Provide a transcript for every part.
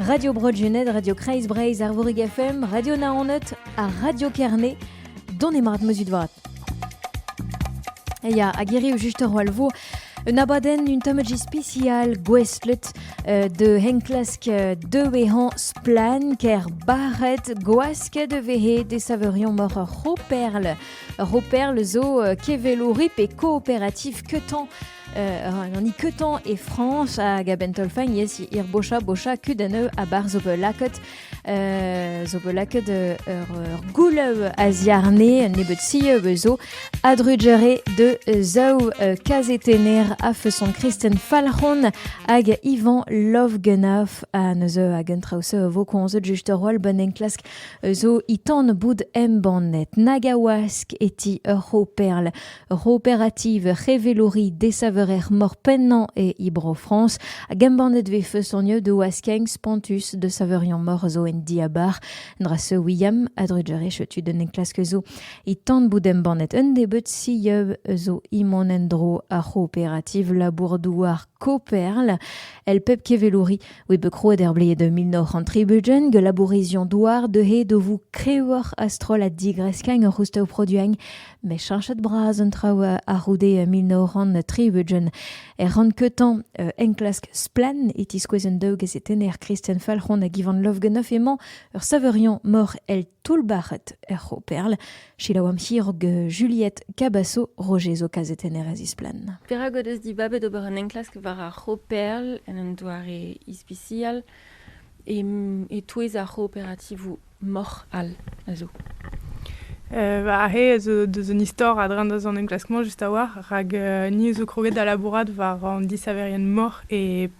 Radio Bro-Gened, Radio Kreiz Breizh, Arvorig FM, Radio Naoned ha Radio Kerne, dont emarat meuzut vat. Eia, a gerioù just ur walvo, un abadenn un tamaji spécial gouestlet euh, de henklask euh, de vehan splan ker baret gwask de vehe de saveurion mor ur roperl. Ur roperl zo euh, kevelourip et coopératif ketan an ikeutan e Frañs hag a-benn taolfaen yes ir bocha bocha kud aneu abar zo bet lakaet zo bet lakaet ur goulev a-ziarne un nebeud si zo adrujere de zaou kazetener a feson Kristen Falc'hon hag Ivan Lovgenaf a neuze hag un traoù vo konzet just ur roal bon enklask zo itan boud embannet nagawask eti ur c'ho perl Ur c'hooperativ c'hevelouri desaveurer-mor pennañ e Bro-Frañs hag embannet e vez feustoniet o askeng spontus da saveuriañ-mor zo en diabar. Drasse William a drugarez tud un enklask zo e tan bout embannet un nebeud sieub zo e mont en-dro ar c'hooperativ labour-douar Koperl. El pep kevelouri oe bet krouet er bled 1930 gelabourizion douar deuhe do vou krewoc'h a-stroll a digresk en ur c'housteu produiñ met cheñchet bras an traoù a-c'houde mil nav c'hant tri-ugent. Er rann-keutañ enklask Splann! e tiskouez an daou gazetenner Kristen Falc'hon hag Ivan Lovganoff emañ ur savoriañ mor el toull-bac'het er C'hooperl. Selaouamp hirog Juliette Cabasso, Roger zo kazetenner a zisplann. Perak o deus dibabet ober un enklask war ar C'hooperl en un doare ispisial E-touez ar c'hooperativoù moc'h all a zo. Aze a zo deus un istor a-dreñv deus an enklask-mañ just a-walc'h rak ni zo kroget da labourat war an disaverien moc'h e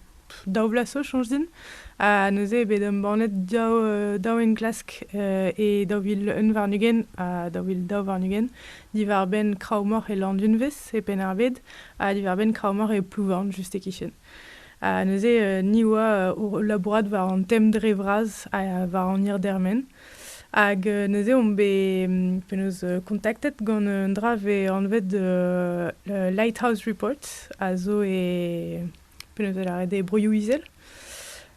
daou vloaz zo soñj din. Ha neuze eo bet embannet daou enklask e daou vil un warn-ugent ha daou vil daou warn-ugent diwar-benn kraou moc'h e Landunvez e Penn-ar-Bed ha diwar-benn kraou moc'h e Plouvorn just e-kichen. Ha neuze ni oa o labourat war an tem dre vras ha war an hirdermen. Hag neuze omp bet penaos kontaktet gant un dra vez anvet Lighthouse Report a zo e penaos e lâret e Broioù-Izel.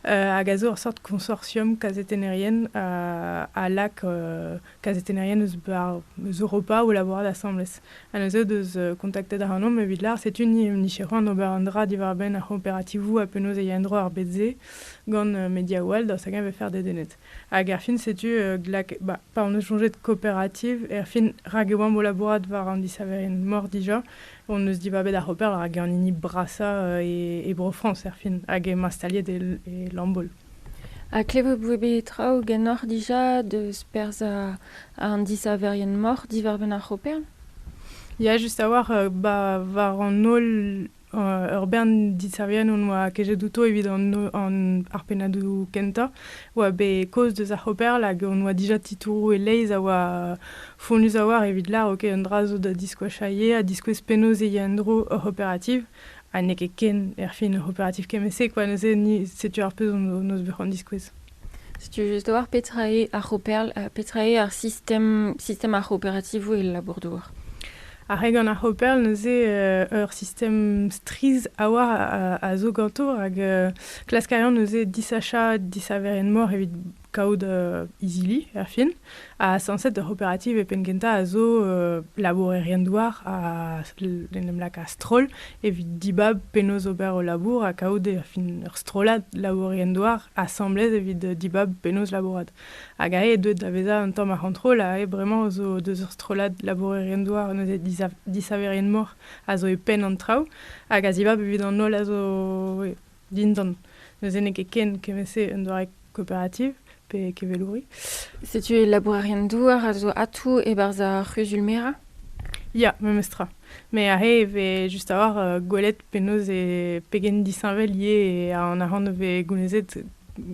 hag a zo ur sort konsortium kazetennerien a lak kazetennerien eus Europa o labourat asambles. Ha neuze deus kontaktet ac'hanomp evit lâr setu ni hon nicheroù an ober un dra diwar-benn ar c'hooperativoù ha penaos e ya en-dro ar bed-se gant mediaoù all daoust hag-eñ e faire dedennet. Hag erfin setu glak ba, pa hon eus soñjet kooperativ, erfin rak e oamp o labourat war an disaverien-mor dija, hon eus dibabet ar c'hooper war hag an hini brasañ e Bro-Frañs erfin hag emañ staliet e Lambaol. Ha klevout vo bet traoù ganeoc'h dija deus perzh an disaverien-moc'h diwar-benn ar c'hoper ? Ya, just a-walc'h. Ba war an holl ur bern disaverien hon boa kejet outo evit ar pennadoù kentañ oa bet kaoz deus ar c'hoper hag hon boa dija titouroù e-leizh a oa fonnus a-walc'h evit lâr ok un dra zo da diskoachañ ivez ha diskouez penaos e ya en-dro hor c'hooperativ. ha n'eo ket ken erfin ur c'hooperativ kement-se quoi neuze ni setu ar pezh hon bet c'hoant diskouez Setu just war petra eo ar c'hooperl ha petra eo ar sistem, sistem ar c'hooperativoù e labour-douar. Ar re gant ar c'hooperl neuze euh, ur sistem strizh a oar a, a zo ganto rak euh, klask a ran neuze disachañ disaveren-mor evit kaout izili er fin. Ha sañset ur c'hooperativ e penn-kentañ a zo labourerien-douar a en em laka stroll evit dibab penaos ober o labour ha kaout er fin ur strollad labourerien-douar asambles evit dibab penaos labourat. Hag aze eo deuet da vezañ un tamm ar c'hontrol aze bremañ zo deus ur strollad labourerien-douar neuze disaverien-mor a zo e penn an traoù hag a zibab evit an holl a zo dindan. Neuze n'eo ket ken kement-se un doare coopérative pe kevelouri. Setu labourerien-douar a zo atou e-barzh ar c'huzul-merañ Ya, memes tra. Mais aze e vez just a-hoc'h euh, gwelet penaos e pegen disheñvel eo an arc'hant o vez gounezet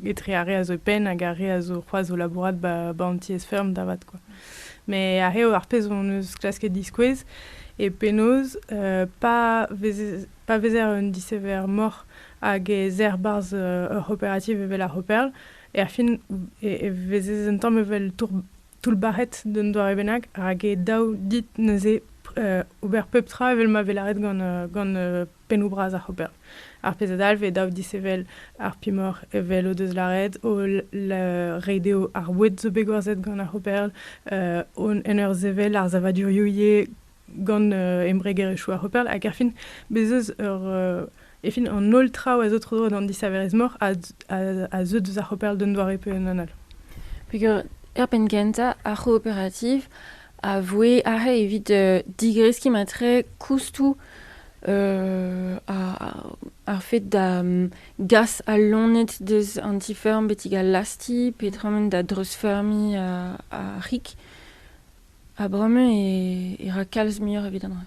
etre ar re a zo e penn hag ar re a zo c'hoazh o labourat ba, ba an tiez-feurm da vat quoi. Mais aze ar pezh hon eus klasket diskouez eo penaos euh, pa vez Pa vezer un disever-moc'h hag ez er 'barzh ur c'hooperativ evel ar C'hooperl, erfin e vezez un tamm evel toullbac'het d'un doare bennak rak eo dav dit neuze ober pep tra evel ma vez lâret gant pennoù bras ar C'hooperl. Ar pezh a dalv eo dav disevel ar pimoc'h evel o deus lâret, o reiñ dezho ar boued zo bet gwerzhet gant ar C'hooperl, en ur sevel ar savadurioù ivez gant embregerezhioù ar Hopperl, hag erfin, bez' eus ur... Efin, an holl traoù a zo tro-dro d'an disaverezh-mor a, a, a zeu deus ar Hopperl d'un doare pe un anal. Peger er penn-kentañ, ar c'hooperativ a voe arc'he evit uh, digreskiñ matre koustoù uh, ar, ar fed da um, gas al loened deus an ti-feurm betek al lasti, petra emaint da dreuzfeurmiñ uh, ar c'hig. Ha bremañ e ra kalz muioc'h evit an dra.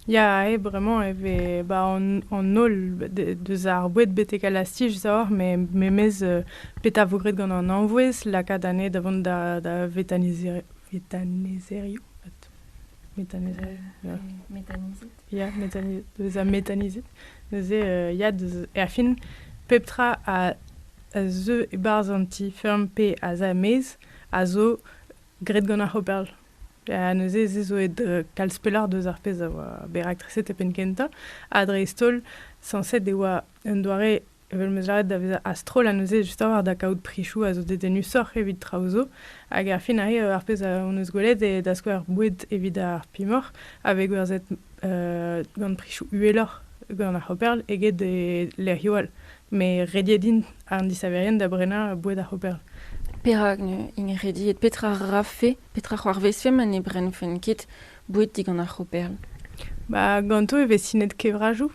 Ya, eo bremañ e vez ba an holl deus ar boued betek al lastich deoc'h memes petra 'vo graet gant an anvouezh lakaat anezhe da vont da vetanizerioù ya bezañ metanizet neuze ya erfin pep tra a zeu e-barzh an ti-feurm pe a za er-maez a zo graet gant ar C'hooperl. Ha neuze ez zo aet kalz pelloc'h deus ar pezh a oa bet raktreset e penn-kentañ, ha dreist-holl sañset e oa un doare evel m'eus lâret da vezañ a-stroll ha neuze justoc'h da kaout prisoù a zo dedennusoc'h evit traoù zo. Hag ar fin arrive ar pezh hon eus gwelet eo da skouer boued evit ar pimoc'h a vez gwerzhet gant prisoù uheloc'h gant ar C'hooperl eget e lec'hioù all. Me rediet int, an disaverien, da brenañ boued ar c'hooperl. Perak int rediet? Petra rafe, petra c'hoarvezfe ma ne brennfent ket boued digant ar c'hooperl? Ba, ganto e vez sinet kevrajoù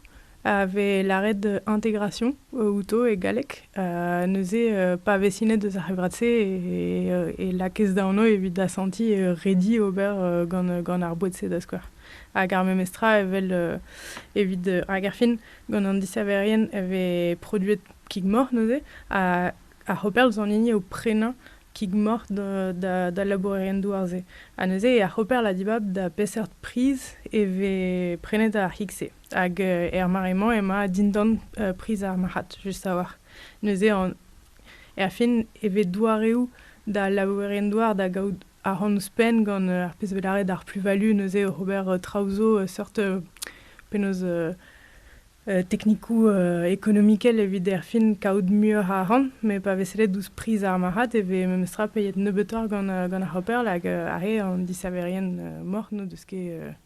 a vez lâret integration outo e galleg. neuze, pa vez sinet eus ar c'hevrad-se e lakez da anv evit asantiñ redi ober gant gant ar boued-se da skouer. Hag ar memes tra evel evit hag erfin Gant an disaverien e vez produet kig-moc'h neuze, ha ar c'hooperl zo an hini o prenañ kig-moc'h d'al labourerien douar-se. Ha neuze, ar c'hooperl a dibab da peseurt priz e vez prenet ar c'hig-se. Hag er mare-mañ emañ dindan priz ar marc'had, just a-walc'h. Neuze, er fin, e vez doareoù d'al labourerien douar da gaout ahont ouzhpenn gant ar pezh bet lâret ar plus-value neuze oc'h ober traoù zo seurt penaos teknikoù ekonomikel evit erfin kaout muioc'h a arc'hant met pa vez sellet ouzh priz ar marc'had e vez memestra peiet nebeutoc'h gant gant ar c'hoper hag ar re an disaverien moc'h n'o deus ket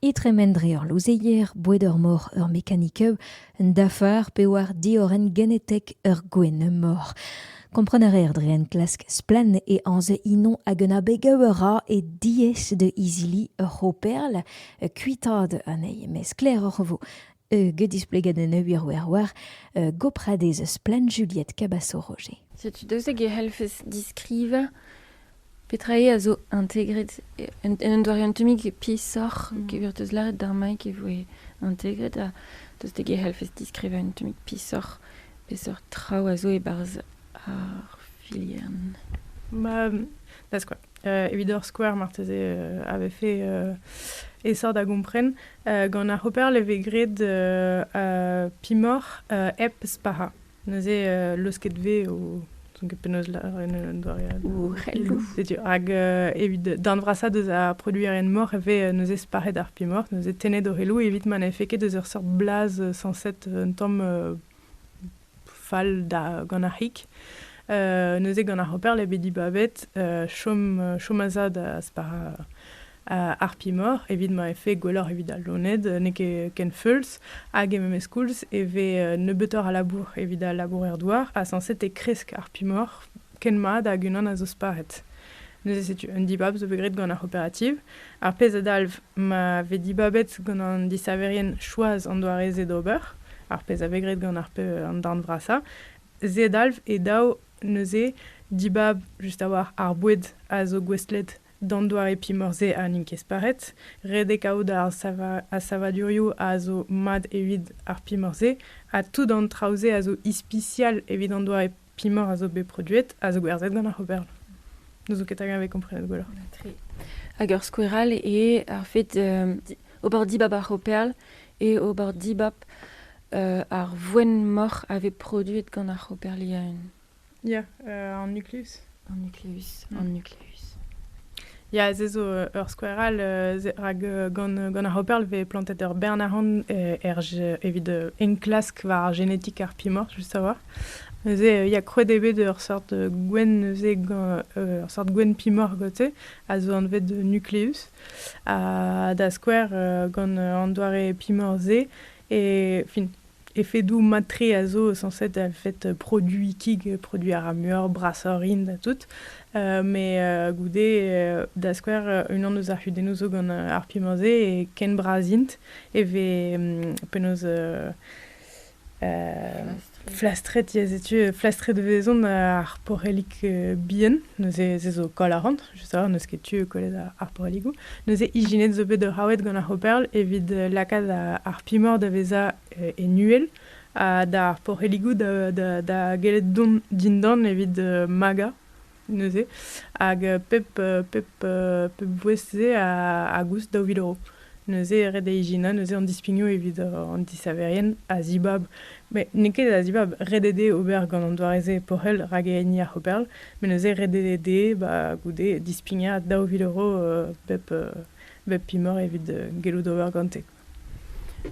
e tremen dre ur louzeier boued ur mor ur mekanikeu un dafar pe war diorren genetek ur gwenn-mor. Kompren a reer dre enklask splann e anz inon hag un abeg a ra e diaes da izili ur c'hooperl kuitaat anezhi, met sklaeroc'h e vo. get displeget en ur wirwirwir gopradez splann Juliette Cabaço-Roger. Setu daoust hag e c'hellfes diskrivañ petra eo a zo integret un doare un tammig peesoc'h mm. e vir deus lâret d'ar maik e voe integret ha daoust hag e c'hellfes diskrivañ un tammig peesoc'h peseurt traoù a zo e-barzh ar filiern Ma, da skouer. Euh, evit ur skouer, marteze, euh, avait fait euh, essor da gompren. Gant ar C'hooperl e vez graet pimoc'h hep spac'hañ. Neuze leusket vez o n'ouzon ket penaos lâret un doare all. Ouc'helloù. Setu, hag evit darn vrasañ deus ar produerien-moc'h e vez neuze spac'het ar pimoc'h, neuze tennet o c'heloù evit ma n'efe ket eus ur seurt blaz sañset un tamm fall da gant ar c'hig. neuze gant ar Hopper eo bet dibabet chom, chom a zad a-spar Harpy-Mor evit ma efe gwelloc'h evit al loened, n'eo ket ken feuls, hag e memes koulz e vez nebeutoc'h a labour evit al labourer-douar, ha sañset e kresk Harpy-Mor ken mat hag unan a zo sparet. Neuze setu un dibab zo bet graet gant ar c'hooperativ. Ar pezh a dalv ma vez dibabet gant an disaverien choaz an doare-se d'ober, ar pezh a vez graet gant ar an darn vrasañ, se dalv e dav neuze dibab just a-walc'h ar boued a zo gouestlet d'an doare pimor-se ha n'int ket sparet, redek out ar savadurioù a zo mat evit ar pimor-se, ha tout an traoù-se a zo ispisial evit an doare pimor a zo bet produet a zo gwerzhet gant ar c'hooperl. N'ouzon ket hag e komprenet gwelloc'h. Tre. Hag ur skoueral eo ar fait euh, ober dibab ar c'hooperl et ober dibab euh, ar voen-moc'h a vez produet gant ar c'hooperl yaun. Ya, euh, an nuklus. An nucleus. Mm. An nucleus. Ya, se zo euh, ur skouer all, euh, rak euh, gant, gant ar Hopper vez plantet ur bern arc'hant er, evit enklask war ar génétique ar pimor, juste savoir. Neuze, il y a krouet eo bet ur sort gwenn, neuze, ur sort gwenn pimor, gote, a zo anvet de nucleus, da skouer gant an doare pimor-se, et fin, Efedoù mat-tre a zo sañset er fed produiñ kig, produiñ a ra muioc'h, brasoc'h int ha tout. Met goude, da skouer, unan eus ar c'hudennoù zo gant ar pimañ-se e ken bras int e vez penaos flastret, ya setu, flastret e vezont ar porellig bihan, neuze se zo koll a ran. je sais n'eus ket tu e kollet ar poreligoù. Neuze ijinet zo bet raouet gant ar c'hooperl evit euh, lakaat ar pimor da vezañ euh, e nuel ha d'ar poreligoù da, da, da gellet dont dindan evit euh, magañ neuze. Hag pep, pep, pep bouez-se a, a goust daou vil euro. Neuze e red da ijinañ neuze an dispignoù evit an disaverien a-zibab, met n'eo ket a-zibab ret eo dezhe ober gant an doare-se pochel rak e hini ar c'hooperl, met neuze ret eo dezhe ba goude dispignañ daou vil euro bep imor evit gellout ober gante.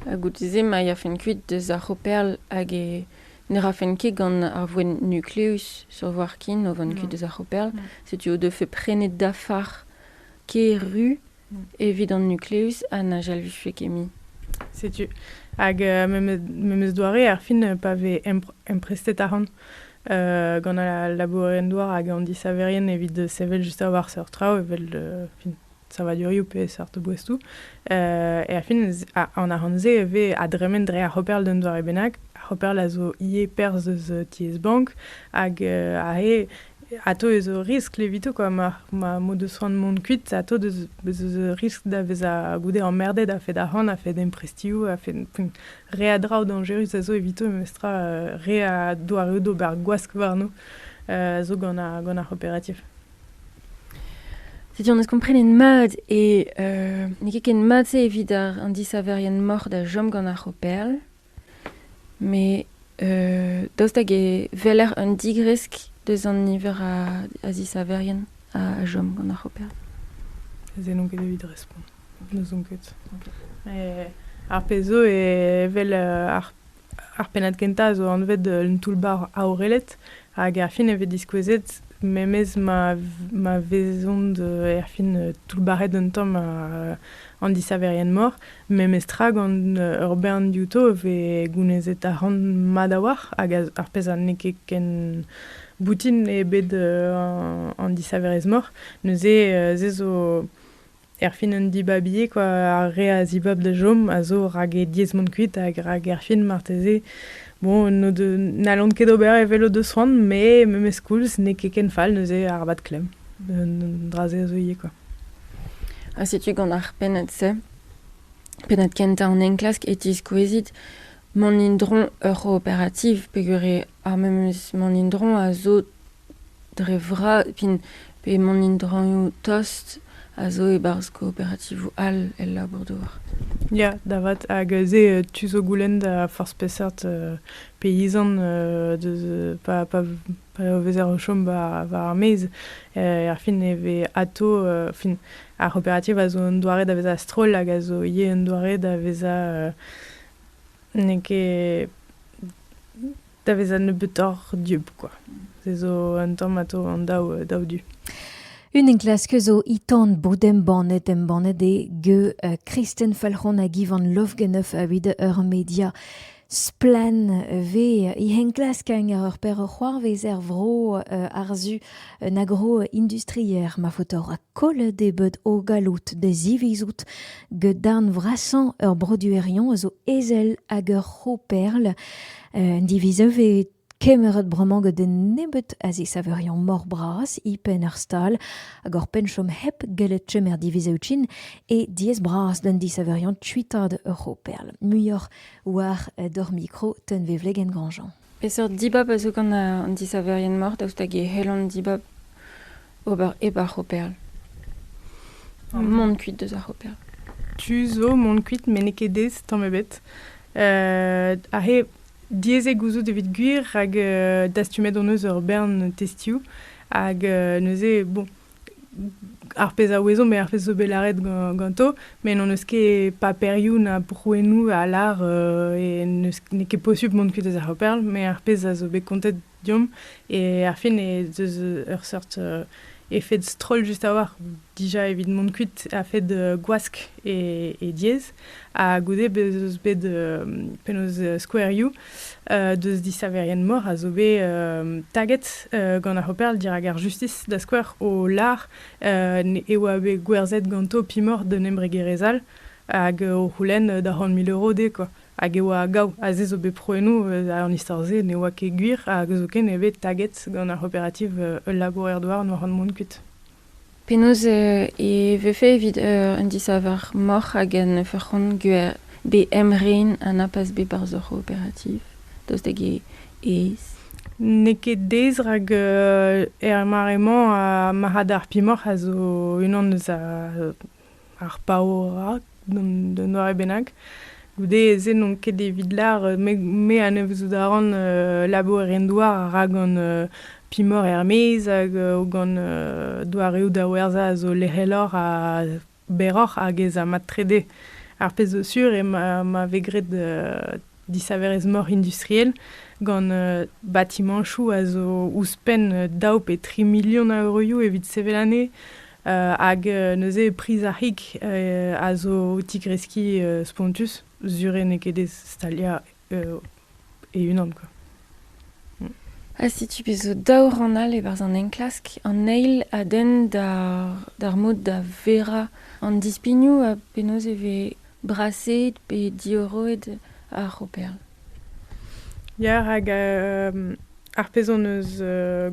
Ha goude-se ma yafent kuit deus ar c'hooperl hag ne rafent ket gant ar voenn nukleus sur voir ken o vont kuit deus ar c'hooperl, setu o defe prenet dafar kêr ru evit an nucleus ha na jalviffe ket mui. Setu. Hag uh, memes doare, ar fin, pa vez emprestet arc'hant uh, gant al labourerien-douar hag an disaverien evit sevel just war seurt traoù, evel uh, fin, savadurioù pe seurt boestoù. Uh, e ar fin, an arc'hant-se e vez a dremen dre ar c'hoperl d'un doare bennak. Ar c'hoperl a zo ivez perzh eus tiez bank hag uh, a he Atav ez eo riskl evito kwa ma ma mod eus c'hoant mont kuit atav ez eus riskl da vezañ goude emmerded a-fed arc'hant a-fed emprestioù a-fed re a draoù dañjerus a zo evito memestra re a doareoù d'ober gwask warno a zo gant ar gant ar c'hooperativ. Setu an eus komprenet mat e n'eo ket ken mat-se evit an disaverien moc'h da chom gant ar c'hooperl. Met daoust hag e weler un digresk deus an niver a zisaverien a chom gant ar c'hoper? Se n'on ket evit respont. N'ouzon ket. Ar pezh zo evel ar pennad kentañ a zo anvet un toull-bac'h aorelet. Hag erfin e vez diskouezet memes ma, ma vezont euh, erfin euh, toullbac'het un tamm uh, an disaverien-mor. Memestra gant euh, ur bern diouto e vez gounezet arc'hant mat a-walc'h hag ar pezh n'eo ket ken boutin eo bet uh, an disaverezh-mor. Neuze uh, se zo Erfin un dibabi eo kwa, ar re a zibab da chom a zo rak e diez mont kuit hag rak erfin marteze bon n'o de- n'hallont ket ober evel o deus c'hoant met memes koulz n'eo ket ken fall neuze arabat klemm un dra-se a zo ivez kwa. Ha setu gant ar pennad-se, pennad kentañ an enklask e tiskouezit mont indron ur operativ peogwir eo ar memes mont indron a zo Dre vras, p'emaon in-draoñioù tost, a zo e-barzh kooperativoù all el labour-douar. Ya, da vat. Hag aze tu zo goulenn da forzh peseurt peizant pa vezer o chom war ar maez, erfin e vez atav fin ar c'hooperativ a zo un doare da vezañ a-stroll hag a zo ivez un doare da vezañ n'eo ket da veza nebeutoc'h dieub, quoi. Se zo un tamm atao an daou, daou du. Un enklask zo itan bod embannet embannet e ge uh, Kristen Falc'hon hag Ivan Lovgenov avit ur media splen ve e henklask ar ur per c'hoarvez er vro uh, arzu un agro industrier ma fotor a kolle de bed o galout de zivizout get darn vrasan ur broduerion zo ezel hag ur c'hoperl Un diviz a vez kemeret bremañ gant un nebeud a zisaverion mor-bras e-penn ar stal hag oc'h penn chom hep gellet chom er divizoù-trin eo diaes-bras d'an disaverion kuitaat ur c'hooperl. Muioc'h war d'hor mikro tenvevlegenn Grandjean. Peseurt dibab a zo gant an disaverien-mor daoust hag e c'hellont dibab? ober hep ar c'hoperl. Mont kuit deus ar c'hoperl. Tu zo mont kuit met n'eo ket aes tamm ebet. aze diaes eo gouzout evit gwir rak dastumet hon eus ur bern testioù hag neuze, bon, ar pezh a ouezo met ar pezh zo bet lâret ganto, met n'hon eus ket paperioù na prouennoù a lâr n'eo ket posubl mont kuit deus ar c'hoperl, met ar pezh a zo bet kontet Deomp. E ar fin ez eus ur seurt euh, efed stroll just a-walc'h, dija evit mont kuit a-fed euh, gwask e, e diez. Ha goude bez eus bet euh, penaos euh, skouerioù euh, deus disaverien-mor a zo bet euh, taget euh, gant ar C'hooperl dirak ar justis, da skouer o lar euh, ne- e oa bet gwerzhet ganto pimor d'un embregerezh all hag o c'houlenn da c'hant mil euro dezhe, quoi. Hag e oa gaou, ha se zo bet prouennoù eus an istor-se ne oa ket gwir, hag zoken eo bet taget gant ar c'hooperativ ul labourer-douar n'oa c'hoant mont kuit. Penaos e vefe evit un disaver moc'h hag en ur c'hont gwer bet emren ha na pas bet barzh hor c'hooperativ daoust hag aes? N'eo ket aes rak er mare-mañ ar marc'had ar pimoc'h a zo unan eus Ar paourañ d'un doare bennak. Goude se n'on ket evit lar me anavezout a ran labour en douar a ra gant pimor er-maez hag gant doareoù da werzhañ a zo lec'heloc'h ha berroc'h hag ez a mat trede. Ar pezh zo sur eo ma vez graet disaverezh moc'h industriel gant batimañchoù a zo ouzhpenn daou pe tri milion a euroioù evit sevel anezhe. hag neuze priz ar c'hig a zo o tigreskiñ spontus sur eo n'eo ket aes staliañ e-unan quoi. Ha setu bet zo daou rann all e-barzh an enklask. An eil a denn d'ar mod da verañ an dispignoù ha penaos e vez Braseet pe diorroet ar c'hooperl? Ya, rak ar pezh hon eus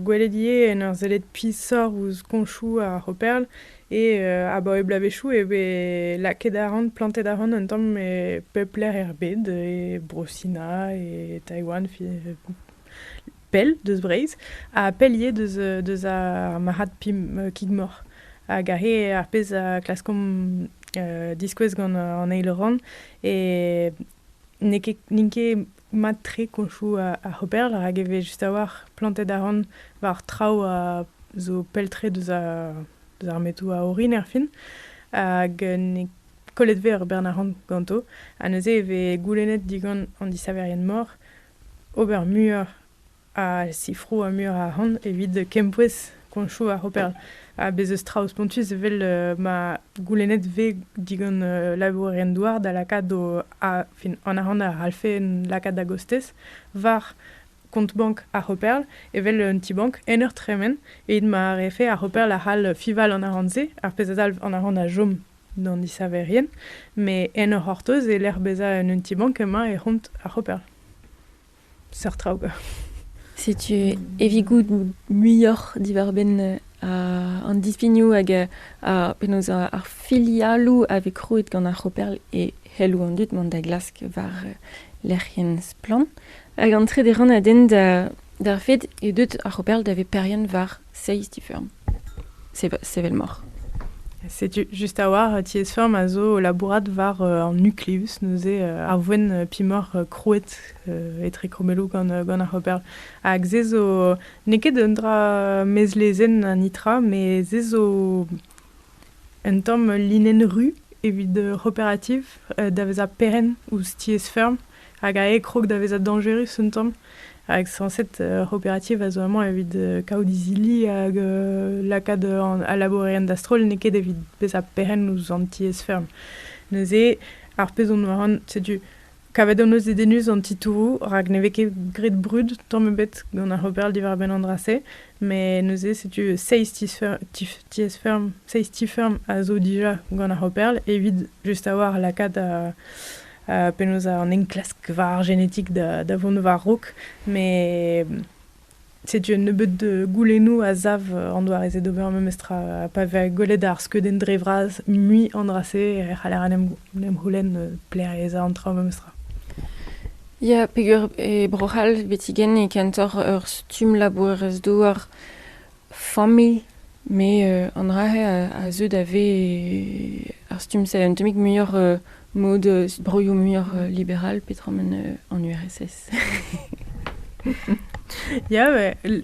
gwelet ivez en ur sellet pishoc'h ouzh koñchoù ar c'hooperl eo abaoe bloavezhioù e vez lakaet arc'hant, plantet arc'hant un tamm e pep lec'h er bed, e Bro-Sina, e Taiwan, pell deus Breizh ha pell ivez deus, deus ar marc'had pib-kig-mor. Hag he ar pezh a klaskomp diskouez gant an eil rann e n'eo ket n'int ket mat-tre koñchoù ar c'hooper rak e vez just a-walc'h plantet arc'hant war traoù a zo pell-tre deus ar deus ar metoù a orin erfin. Hag n'eo kollet 'vez ur bern arc'hant ganto. Ha neuze e vez goulennet digant an disaverien-mor ober muioc'h a sifroù ha muioc'h arc'hant evit kempouez koñchoù ar c'hoperl. Ha bez' eus traoù spontus evel ma goulennet vez digant labourerien-douar da lakaat o a- fin an arc'hant a c'hallfe lakaat da gostez war kont-bank ar c'hoperl evel un ti-bank en ur tremen evit ma refe ar c'hoperl a c'hall fiñval an arc'hant-se, ar pezh a dalv an arc'hant a chom. d'an isaverien, met en o c'hortoz e lec'h bezañ en un ti-bank emañ e c'hont ar c'hoper. Seurt traoù. Setu evit goût muioc'h diwar-benn an dispignoù hag penaos ar filialoù a vez krouet gant ar c'hoperl e c'helloù an dud mont da glask war lec'hienn Splann! Hag an trede rann a denn d'ar fed e deut ar c'hoperl da veperien war Seizh ti-feurm. Sevel moc'h. Setu just a-walc'h tiez-feurm a zo labourat war an nucleus, neuze ar voen pimoc'h krouet etre krommelloù gant ar c'hooper. Hag se zo n'eo ket un dra mezlezenn an nitra, met se zo un tamm linenn ru evit cooperative da vezañ perenn ouzh tiez-feurm. hag a krog da vezañ dañjerus un tamm. Hag sañset, ur c'hooperativ a zo amañ evit kaout izili hag lakaat al labourerien da-stroll, n'eo ket evit bezañ perc'henn ouzh an tiez-feurm. Neuze, ar pezh on war an, setu, kavet hon eus dedennus an titouroù, rak ne vez ket graet brud tamm ebet gant ar c'hooper diwar-benn an dra-se, met neuze, setu seizh tiez-feurm, seizh ti-feurm a zo dija gant ar c'hooperl evit just a-walc'h lakaat penaos an enklask war ar genetik da vont war-raok, met setu un nebeud goulennoù a sav an doare-se d'ober memes tra. Pa vez gwelet ar skeudenn dre vras mui an dra-se e c'haller en em c'houlenn pleriañ an tra memes tra. Ya, peger e Bro-C'hall, betigen, e kentoc'h ur stumm labourerez-douar familh, me an dra-se a zeu da vez ar stumm-se un tammig muioc'h mod broioù muioc'h liberal petra ma an URSS. Ya,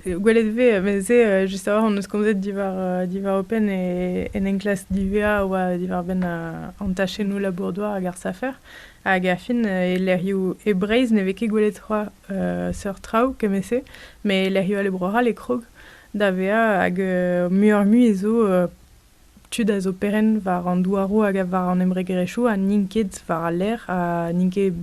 gwelet vez, mez-se just a-walc'h hon eus komzet diwar diwar OPEN e en enklask divea a oa diwar-benn an tachennoù labour-douar hag ar safer hag ar fin e lec'hioù e Breizh ne vez ket gwelet c'hoazh seurt traoù kement-se, met lec'hioù all e Bro-C'hall e krog da vezañ hag muioc'h-mui zo tud a zo perenn war an douaroù hag war an embregerezhioù ha n'int ket war al lec'h ha n'int ket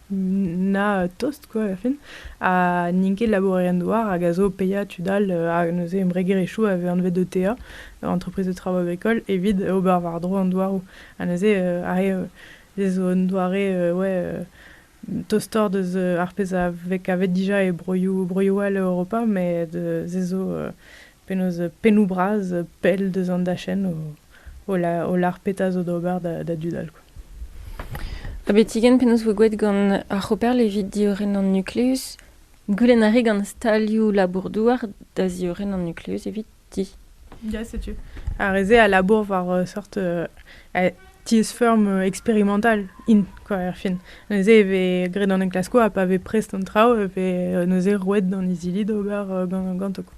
na tost quoi er fin ha n'int ket labourerien-douar hag a zo paeañ tud all ha neuze embregerezhioù a vez anvet ETA entreprise de travaux agricoles evit ober war-dro an douaroù ha neuze ar re zo un doare ouais Tostoc'h deus ar pezh a vez kavet dija e broioù broioù all Europa met se zo penaos pennoù bras pell deus an dachenn o lar o lar petra zo d'ober da dud all quoi. Abetigen penaos voe gouet gant ar C'hooperl evit diorren an nukluz. Goulenn a rae gant stalioù labour-douar da ziorren an nukluz evit. ti. Ya, setu. Ar re-se a labour war ur seurt euh, tiez-feurm euh, eksperimental int, quoi, erfin. Neuze e vez graet an enklaskoù ha pa vez prest an traoù e vez euh, neuze roet d'an izili d'ober ganto. Quoi.